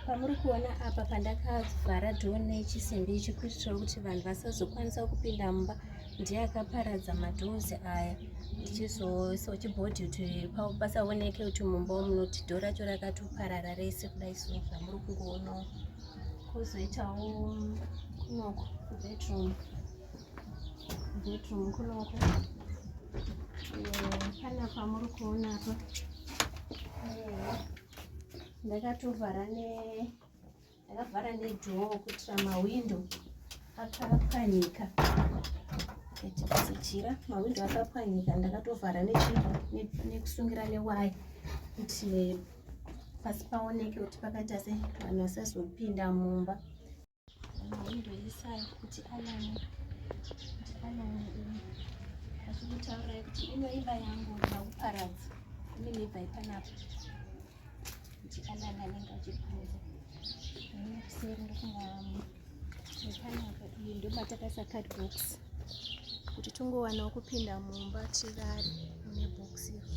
pamuri kuona apa pandakavhara dhoo nechisimbi ichi kuitira kuti vanhu vasazokwanisa kupinda mumba ndiye akaparadza madhoozi aya ndichizochibhodhi kuti pasaoneke kuti mumba munoti dhoo racho rakatoparara rese kudai so zvamuri kungoonawo kozoitawo kunoko bedroom bedroom kunoko eh, panapa muri kuona apa eh, ndakatovhara ne ndakavhara nedhoo kuitira mahwindo akapwanyika echikasijira mahwindo akapwanyika ndakatovhara nekusungira newaya kuti pasi paoneke kuti pakaita se vanhu vasazopinda mumba ndoisai kuti alani kuti alani ini achikutaurai kuti inoiva yangu ndakuparadza ini nebva ipanapo kuti alani anenge achibvunza kuseri ndokunga ipanapo iyi ndomatakasa card box kuti tongowanawo kupinda mumba tirare mune box iri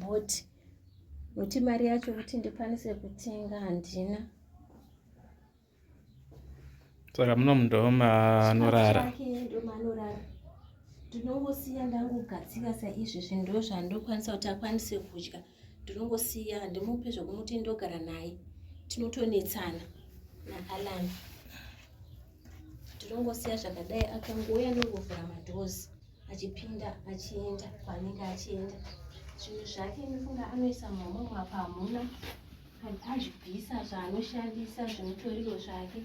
but kuti mari yacho kuti ndikwanise kutenga handina saka muno mundoma anorara ndinongosiya ndangogadzika saizvi zvinhu ndo zvandokwanisa kuti akwanise kudya ndinongosiya handimupe zvekumuti ndogara naye tinotonetsana naalani ndinongosiya zvakadai akangouya ndongovhura madhozi achipinda achienda kwaanenge achienda zvinhu zvake ndofunga anoisa mumamwe apa hamuna azvibvisa zvaanoshandisa zvimutoriro zvake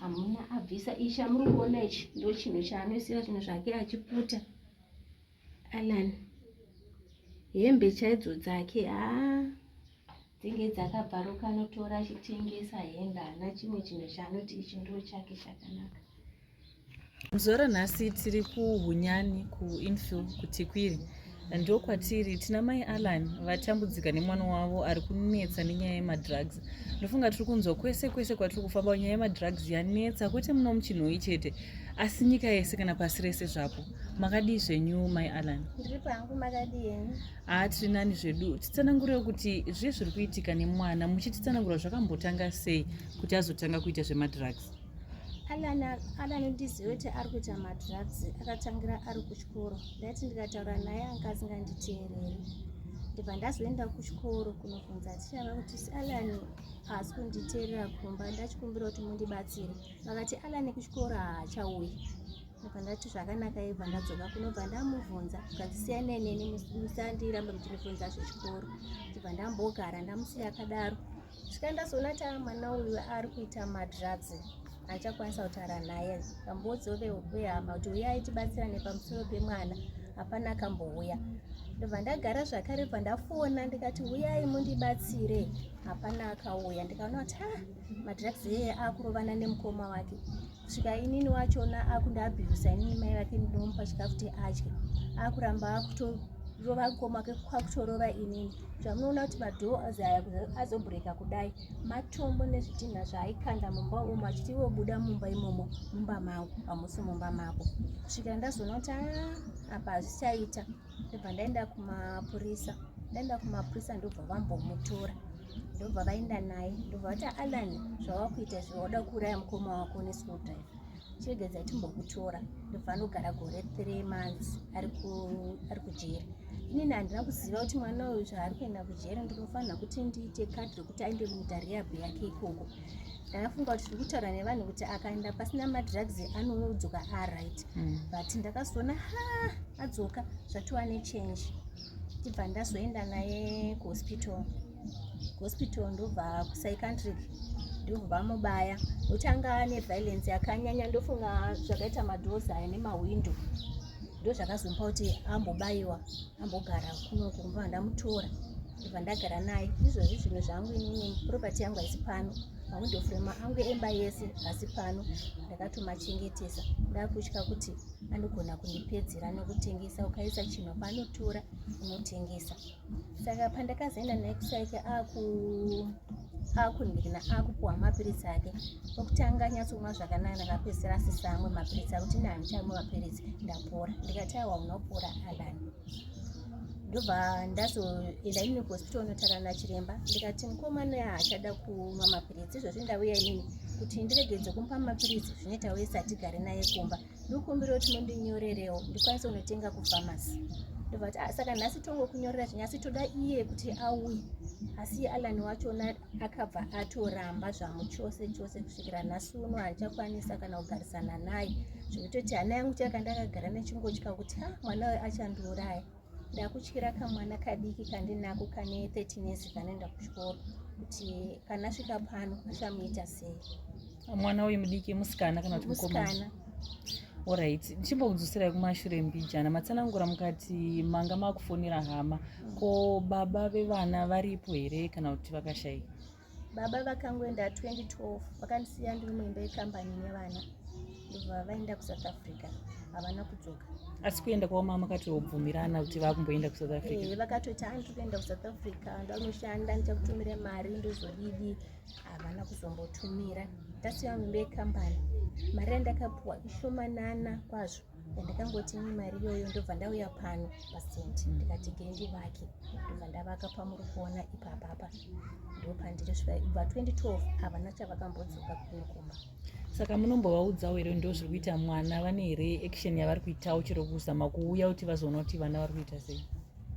hamuna abvisa ichi chamuri kuona ichi ndo chinhu chaanoisira zvinhu zvake achiputa alan hembe chaidzo dzake haa dzinge dzakabvaruka anotora achitengesa hembe haana chimwe chinhu chaanoti ichi ndoo chake chakanaka zora nhasi tiri kuhunyani kuinfil kutikwiri ndokwatiri tina mai allan vatambudzika nemwana wavo ari kunetsa nenyaya yemadrugs ndofunga tiri kunzwa kwese kwese kwatiri kufamba nyaya yemadrugs yanetsa kwete muno muchinhoyi chete asi nyika yese kana pasi rese zvapo makadii zvenyu mai allan ndiri pangu makadii henyu haa tiri nani zvedu titsanangurewo kuti zviye zviri kuitika nemwana muchititsanangura zvakambotanga sei kuti azotanga kuita zvemadrugs alana ndizive kuti ari kuita madrugs akatangira ari kuchikoro ndati ndikataura naye anga asinganditeereri ndibva ndazoenda kuchikoro kunobvunza tichava kuti alani haasi kunditeerera kumba ndachikumbira kuti mundibatsire vakati alani kuchikoro haachauyi ndobva ndati zvakanaka ibva ndadzoka kunobva ndamuvhunza zvandisiyanei neni musandiramba muchinivhunza zvechikoro ndibva ndambogara ndamusiya akadaro svika ndazoona ta mwana uyu ari kuita madrugs achakwanisa kutaura naye kambodzo vehama kuti uyai tibatsirane pamusoro pemwana hapana akambouya ndobva ndagara zvakare bva ndafona ndikati uyai mundibatsire hapana akauya ndikaona kuti ha madrugs eye akurovana nemukoma wake kusvika inini wachona akundiabhirusa inini mai vake ndinomupa chikafu kuti adye akuramba akutorova kukoma kwakutorova inini zvamunoona kuti madhoo azaya azobhureka kudai matombo nezvidhinha zvaaikanda mumba umo achiti iwe buda mumba imomo mumba mangu pamusi mumba mako kusvika ndazoona kuti aa apa hazvichaita ndobva ndaenda kumapurisa ndaenda kumapurisa ndobva vambomutora ndobva vaenda naye ndobva vati alan zvawakuita izvi wauda kuuraya mukoma wako neschool drive chiregedza timbokutora ndobva anogara gore three months ari kujeri inini handina kuziva kuti mwana uyu zvaari kuenda kujeri ndinofanira kuti ndiite kadhi rekuti aende kuita rehab yake ikoko ndakafunga kuti tiri kutaura nevanhu kuti akaenda pasina madrugs anodzoka aright hmm. but ndakazoona ha adzoka zvatova nechange ndibva ndazoenda naye kuhospital kuhospital ndobva kupsycantric ndobva mubaya nokuti anga ane violence yakanyanya ndofunga zvakaita madoors aya nemahwindo ndo zvakazomupa kuti ambobayiwa ambogara kuno kumba ndamutora ndibva ndagara naye izvozvi zvinhu zvangu inini property yangu haisi pano mawindo frema angu emba yese hasi pano ndakatomachengetesa ndakutya kuti anogona kundipedzera nokutengesa ukaisa chinhu panotora unotengesa saka pandakazoenda naye kusaike akundirina akupuwa mapiritsi ake okutanga anyatsomwa zvakanaka ndakapedzisira asisamwe mapiritsi akuti ndandichamo mapiritsi ndapora ndikati awa unopora alani ndobva ndazoenda inini kuhospital onotara nachiremba ndikati mukomana yaachada kumwa mapiritsi izvozvi ndauya inini kuti ndiregedze kumupa mapiritsi zvine tauye satigare naye kumba ndikumbira kuti mundinyorerewo ndikwanise kunotenga kufamasi ndobva kuti ah, saka nhasi tongokunyorera zvinyasi toda iye kuti auye asi alani wachona akabva atoramba zvamuchose chose kusvikira nhasi uno handichakwanisa kana kugarisana naye zvekutoti hana yangu chaka ndakagara nechingotya kuti ha mwana uyo achandiuraya ndakutyira kamwana kadiki kandinako kane 13 years kanoenda kuchikoro kuti kana svika pano achamuita sei mwana uyu mudiki musikana kana kuti mukomana orit ndichimbokudzoserai kumashure mbijana matsanangura mukati manga makufonera hama ko baba vevana varipo here kana kuti vakashaika baba vakangoenda 2012 vakandisiya ndiri muimba yekambani nevana ndobva vaenda kusouth africa havana kudzoka asi kuenda kwavo mama katobvumirana kuti vakumboenda kusouth africa vakatoti andiri kuenda kusouth africa ndanoshanda ndichakutumira mari ndozodidi so havana kuzombotumira tasi vangu ndeyekambani mari yandakapuwa ishomanana kwazvo yandakangoti ni mari iyoyo ndobva ndauya pano pasenti ndikati gendi vake ndobva ndavaka pamuri kuona ipapapa ndopandiri svika ibva 2012 havana chavakambodzoka kuno kumba saka munombovaudzawo here ndo zviri kuita mwana vane here action yavari kuitawo chero kuzama kuuya kuti vazoona kuti vana vari kuita sei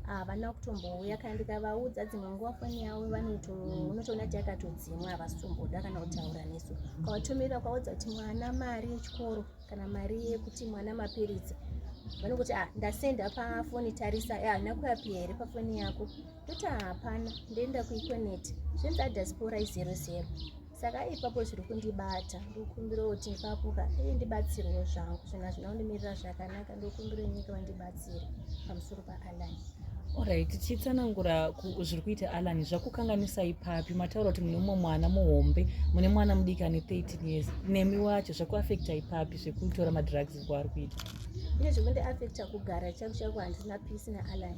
havana ah, kutombouya kana ndikavaudza dzimwe nguva foni yavo vanotoona ti yakatodzimwa havasitomboda kana kutaura nesu kawatomirira kwaudza kuti mwana mari yechikoro kana mari yekuti mwana mapiritsi vanokuti ah, ndasenda pafoni tarisa eh, haina kuyapi here pafoni yako toti ah, hapana ndoenda kuikoneti zvinzi adiaspora izero zero saka ipapo zviri kundibata ndokumbira kuti ipapoka ee ndibatsirwo zvangu zvinhu hazvina kundimirira zvakanaka ndokumbira nyika vandibatsire pamusoro paalan orit chitsanangura zviri kuita alan zvakukanganisa ipapi mataura kuti mune umwe mwana muhombe mune mwana mudiki ane 13 years nemi wacho zvakuafekta ipapi zvekutora madrugs kwaari kuita ine zvekundiafekta kugara chaku chaku handina peace naalan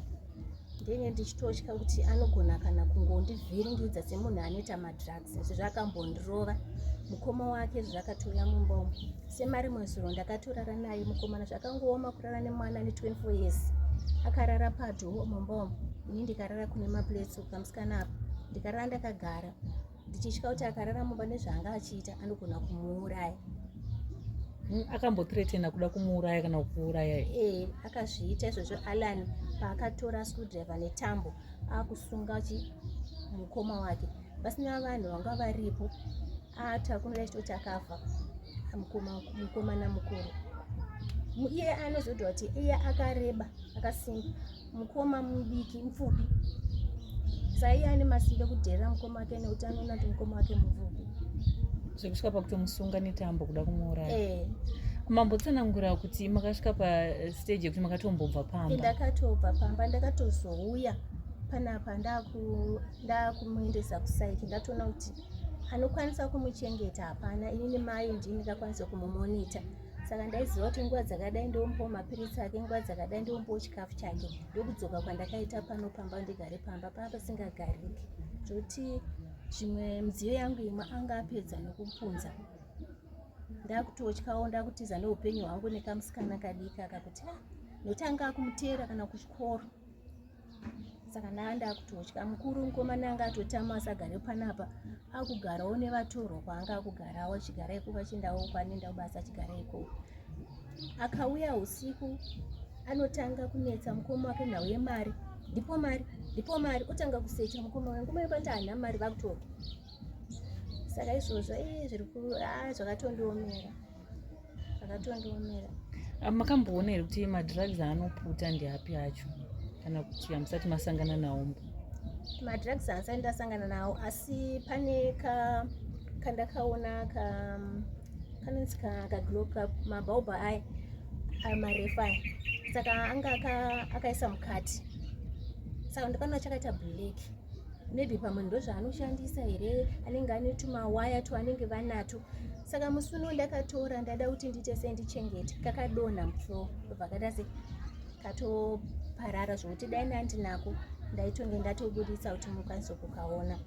ndenge ndichitotya kuti anogona kana kungondivhiringidza semunhu anoita madrugs izvi zvakambondirova mukoma wake izvi zvakatouya mumba umu semari mwezuro ndakatorara naye mukomana zvakangooma kurara nemwana ane 24 years akarara padhoo mumba umu ini ndikarara kune maplates ukamusikana apa ndikarara ndakagara ndichitya kuti akarara mumba nezvaanga achiita anogona kumuuraya hmm, akambothreatena kuda kumuuraya kana kukuuraya ee eh, akazviita izvozvo alan paakatora screwdriver netambo akusunga chi mukoma wake pasina vanhu vanga varipo atakunira chitoti akafa mukomana mukuru iye anozodwa kuti iye akareba akasimba mukoma mudiki mupfupi saiye ane masimbe kudherera mukoma wake nekuti anoona kuti mukoma wake mupfupi zvekusvika pakutomusunga netambo kuda kumuuraya eh. mambotsanangura kuti makasvika pastage yekuti makatombobva pamba ndakatobva pamba ndakatozouya panapa ndakumuendesa kusaiki ndatoona kuti anokwanisa kumuchengeta hapana inini mai ndini ndakwanisa kumumonita saka ndaiziva kuti nguva dzakadai ndombowo mapiritsi ake nguva dzakadai ndombowo chikafu chake ndokudzoka kwandakaita pano pamba ndigare pamba paa pasingagariki zvokuti zvimwe midziyo yangu imwe anga apedza nokupunza ndakutotyawo ndakutiza neupenyu hwangu nekamusikana kadiki akakuti ah, notanga akumuteera kana kuchikoro saka ndaa ndakutotya mukuru mukomana anga atotama asagare panapa akugarawo nevatorwa kwaanga akugarawo achigara ikoko achindawo kwanenda kubasa achigara ikoko akauya usiku anotanga kunetsa mukoma wake nhau yemari ndipo mari ndipo mari otanga kusecha mukoma wake ngoma yepati haana mari vakutorwa saka izvozvo i zviri ku a zvakatondiomera akatondiomera ah, makamboona here kuti madrugs aanoputa ndeapi acho kana kuti hamusati masangana nawo mbo madrugs haasati ndasangana nawo asi pane ka kandakaona ka kanonzi ka kaglo ka mabhaubha aya ayo marefu aya saka anga akaisa mukati saka ndikanoa chakaita black maybe pamwe ndozvaanoshandisa here anenge ane tumawaya twaanenge vanato saka musi uno ndakatora ndada kuti ndiite sei ndichengete kakadonha muflo ndobva kaita se katoparara zvokuti dai ndandinako ndaitonge ndatobudisa kuti mukwanise kukaona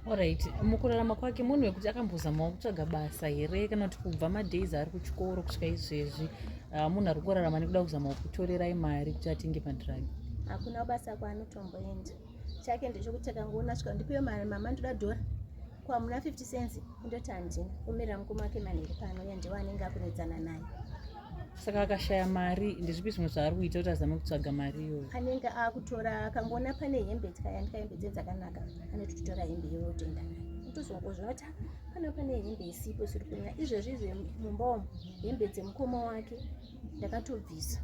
orit mukurarama kwake munhu wekuti akambozamawo kutsvaga basa here kana kuti kubva madays ari kuchikoro kusvika izvezvi ah, munhu ari kurarama nekuda kuzamawo kutorerai mari kuti atenge padrug hakuna basa kwaanotomboenda chake ndechokuti akangoona svika ndipiwe mari mama ndoda dhora kwamuna 50 cents kundoti handina omirira mukoma wake manheri pano uye ndiwo anenge akunetsana naye saka akashaya mari ndezvipi zvimwe zvaari kuita kuti azame kutsvaga mari iyoyo anenge akutora akangoona pane hembe tikayandika hembe dze dzakanaka anoti titora hembe iyoyo tenda naye tozongozviona kuti pano pane hembe isipo siri kunyaya izvezvi izve mumba umu hembe dzemukoma wake ndakatobvisa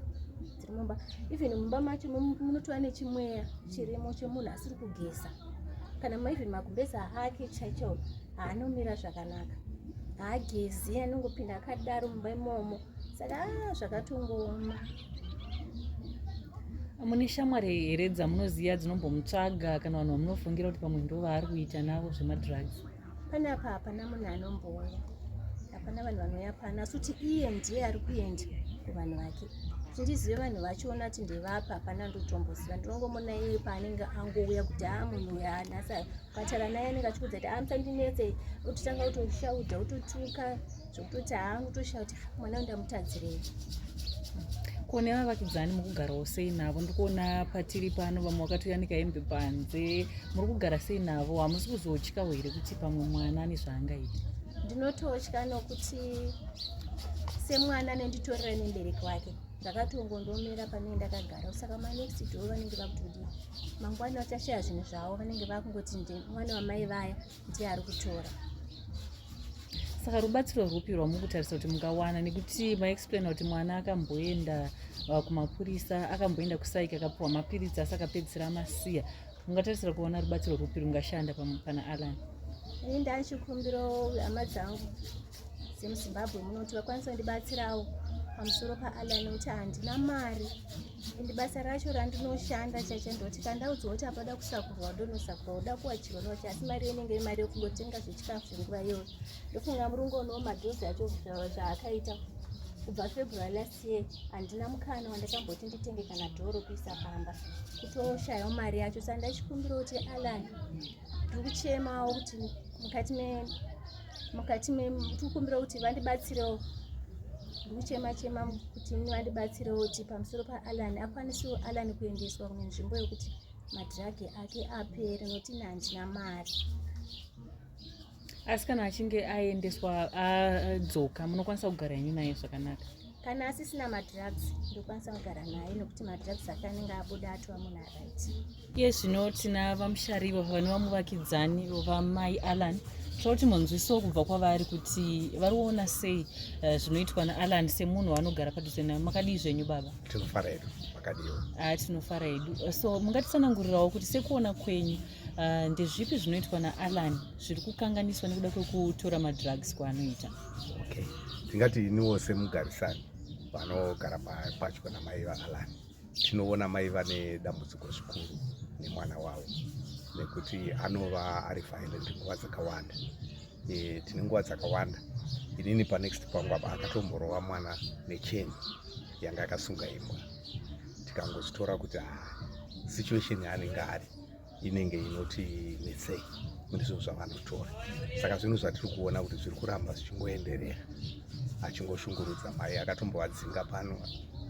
dziri mumba even mumba macho munotova nechimweya chirimo chemunhu asiri kugeza kana maivhen makumbeza ake chaicho haanomira zvakanaka haagezi anongopinda akadaro mumba imomo saka ah, zvakatongooma mune shamwari here dzamunoziva dzinombomutsvaga kana vanhu vamunofungira kuti pamwe ndo vaari kuita navo zvemadrugs Pane apa hapana munhu anombouya, hapana vanhu vanouya pano, asi kuti iye ndiye ari kuenda kuvanhu vake kuti ndizive vanhu vachiona kuti ndevapa hapana ndotomboziva ndinongomona iye paanenge angouya kuti haa munhu uya nhasa kukatara naye anenge achikuudza kuti amusandinetse ototanga kutoshaudha ototuka zvokutoti hangu toshaa kuti mwana wandamutadzirei kone vavakidzani mukugarawo sei navo ndikuona patiri pano vamwe wakatoyanika hembe panze muri kugara sei navo hamusi kuzotyawo here kuti pamwe mwana ane zvaangaita ndinototya nokuti semwana nenditorera nembereki wake ndakatongondomera panei ndakagara saka manext do vanenge vakutodii mangwana vachashaya zvinhu zvavo vanenge vakungoti mwana wamai vaya ndiye ari kutora saka rubatsiro rwupi rwamukutarisa kuti mungawana nekuti maexplaina kuti mwana akamboenda uh, kumapurisa akamboenda kusaiki akapiwa mapiritsi asi akapedzisira amasiya mungatarisira kuona rubatsiro rwupi rungashanda pana alan ini ndaichikumbiro hama dzangu dzemuzimbabwe muno kuti vakwanise kundibatsirawo pamusoro paallan nekuti handina mari ende basa racho randinoshanda chacha ndoti kandaudzwa kuti apada kusakurwa ndonosakurwa uda kuwachirwa nowachi asi mari inenge imari yekungotenga zvechikafu nguva iyoyo ndofunga murungu onoo madhozi acho zvaakaita kubva february last year handina mukana wandakamboti nditenge kana dhoro kuisa pamba kutoshayawo mari yacho sandachikumbira kuti allan tiri kuchemawo kuti mukati me mukati me tiri kukumbira kuti vandibatsirewo ndiri kuchema chema kuti vandibatsirewo kuti pamusoro paalan akwanisewo alan kuendeswa kune nzvimbo yekuti madhiragi ake apere noti ini handina mari asi kana achinge aendeswa adzoka munokwanisa kugara henyu naye zvakanaka kana asisina madrugs ndokwanisa kugara naye nokuti madrugs ake anenge abuda atova munhu aright iye zvino tina vamushariwa vane vamuvakidzani vamai allan tinoda kuti munzwiso kubva kwavari kuti vari kuona sei eh, zvinoitwa naallan semunhu waanogara padhuze nayo makadii zvenyu baba tinofara hedu makadiwo a ah, tinofara hedu so mungatitsanangurirawo kuti sekuona kwenyu Uh, ndezvipi zvinoitwa naallan zviri kukanganiswa nekuda kwekutora madrugs kwaanoita okay tingati iniwo semugarisani vanogara patyo namai vaallan tinoona mai vane dambudziko zvikuru nemwana wavo nekuti anova ari violent nguva dzakawanda e, tine nguva dzakawanda inini panext pangu apa akatomborova mwana necheni yanga akasunga imbwa tikangozitora kuti ah, situation yaanenge ari inenge inoti netsei ndizvo zvavanotora saka zvinhu zvatiri kuona kuti zviri kuramba zvichingoenderera achingoshungurudza mai akatombovadzinga pano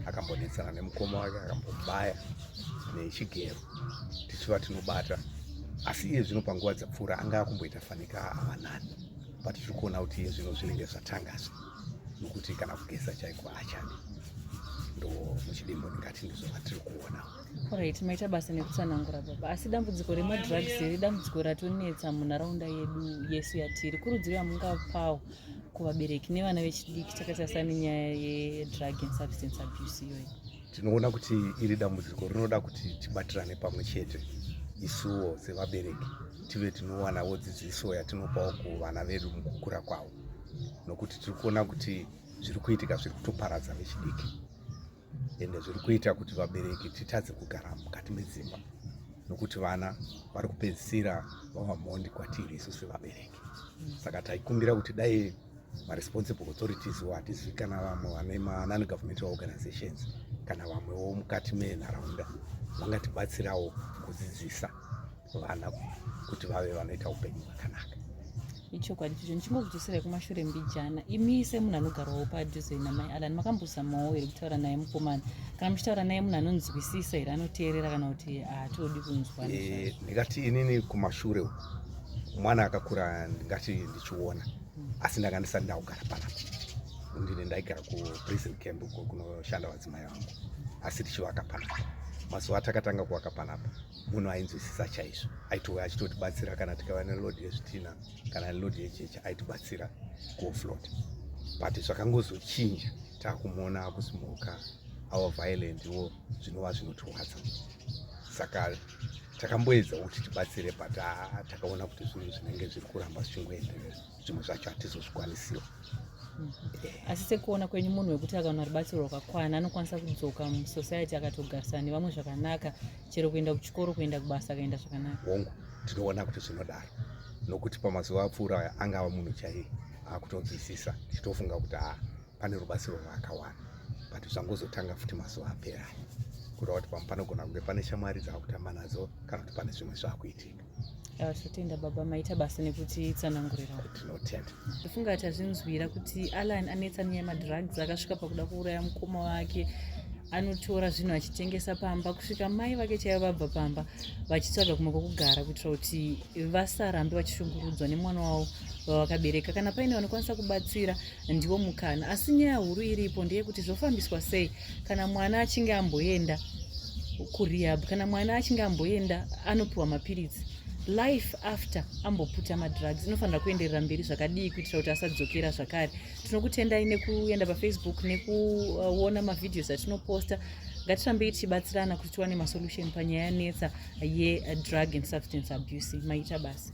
akambonetsana nemukoma wake akambobaya nechigero tichiva tinobata asi iye zvino panguva dzapfuura anga akumboita fanika avanani but tiri kuona kuti iye zvino zvinenge zvatangazve nokuti kana kugeza chaiko achadi ndo muchidimbo ndingati ndizvo vatiri kuona Alright, maita basa nekutsanangura baba, asi dambudziko remadrugs here dambudziko ratonetsa munharaunda yedu yesu yatiri. Kurudziro yamungapawo kuvabereki nevana vechidiki takaita sani nyaya yedrug and substance abuse iyoyi? Tinoona kuti iri dambudziko rinoda kuti tibatirane pamwe chete isuwo sevabereki tive tinowanawo dzidziso yatinopawo kuvana vedu mukukura kwavo, nokuti tiri kuona kuti zviri kuitika zviri kutoparadza vechidiki. ende zviri kuita kuti vabereki titadze kugara mukati medzimba nokuti vana vari kupedzisira vava mhondi kwatiri isu sevabereki saka taikumbira kuti dai maresponsible authorities wo hatizivi kana vamwe vane manani governmental organizations kana vamwewo mukati menharaunda vangatibatsirawo kudzidzisa vana kuti vave vanoita upenyu hwakanaka ichokwadi chicho ndichingokudzoserai kumashure mbijana imi semunhu anogarawo padhuze namai alan makambozamawo here kutaura naye mukomana kana muchitaura naye munhu anonzwisisa here anoteerera kana kuti haatodi kunzwa eh, ndingati inini kumashure uku mwana akakura ndingati ndichiona hmm. asi ndanga ndisati ndakugara panapa ndine ndaigara kuprison camp kunoshanda vadzimai vangu asi tichivaka panapa mazuva atakatanga kuvaka panapa munhu ainzwisisa chaizvo aitouya achitotibatsira kana tikava nelodi yezvitina kana nelodi yechechi aitibatsira kuflot but zvakangozochinja takumuona akusimuka our violent wo zvinova zvinotiwadza saka takamboedza kuti tibatsire but ah, takaona kuti zvinhu zvinenge zviri kuramba zvichingoenderera zvimwe zvacho hatizozvikwanisiwo mhm. eh. asi sekuona kwenyu munhu wekuti akaona rubatsiro rwakakwana anokwanisa kudzoka musociety akatogarisana nevamwe zvakanaka chero kuenda kuchikoro kuenda kubasa akaenda zvakanaka hongu tinoona kuti zvinodaro nokuti pamazuva apfuura aya angava munhu chaiye akutonzwisisa ndichitofunga kuti haa pane rubatsiro rwaakawana but zvangozotanga futi mazuva apera aya kureva kuti pamwe panogona kunge pane shamwari dzaakutamba nadzo kana kuti pane zvimwe zvaakuitika Ah, totenda baba maita basa nekuti tsanangurira tinotenda ndofunga tazvinzwira kuti alan anetsa nyaya yemadrugs akasvika pakuda kuuraya mukoma wake anotora zvinhu achitengesa pamba kusvika mai vake chaivo vabva pamba vachitsvaga kumwe kwokugara kuitira kuti vasarambe vachishungurudzwa nemwana wavo vavakabereka kana paine vanokwanisa kubatsira ndiwo mukana asi nyaya huru iripo ndeyekuti zvofambiswa sei kana mwana achinge amboenda kurehab kana mwana achinge amboenda anopiwa mapiritsi life after amboputa madrugs inofanira kuenderera mberi zvakadii kuitira kuti asadzokera zvakare tinokutendai nekuenda pafacebook nekuona mavhideos atinoposta ngatirambei tichibatsirana kuti tiwane masolution panyaya yanetsa yedrug and substance abuse maita basa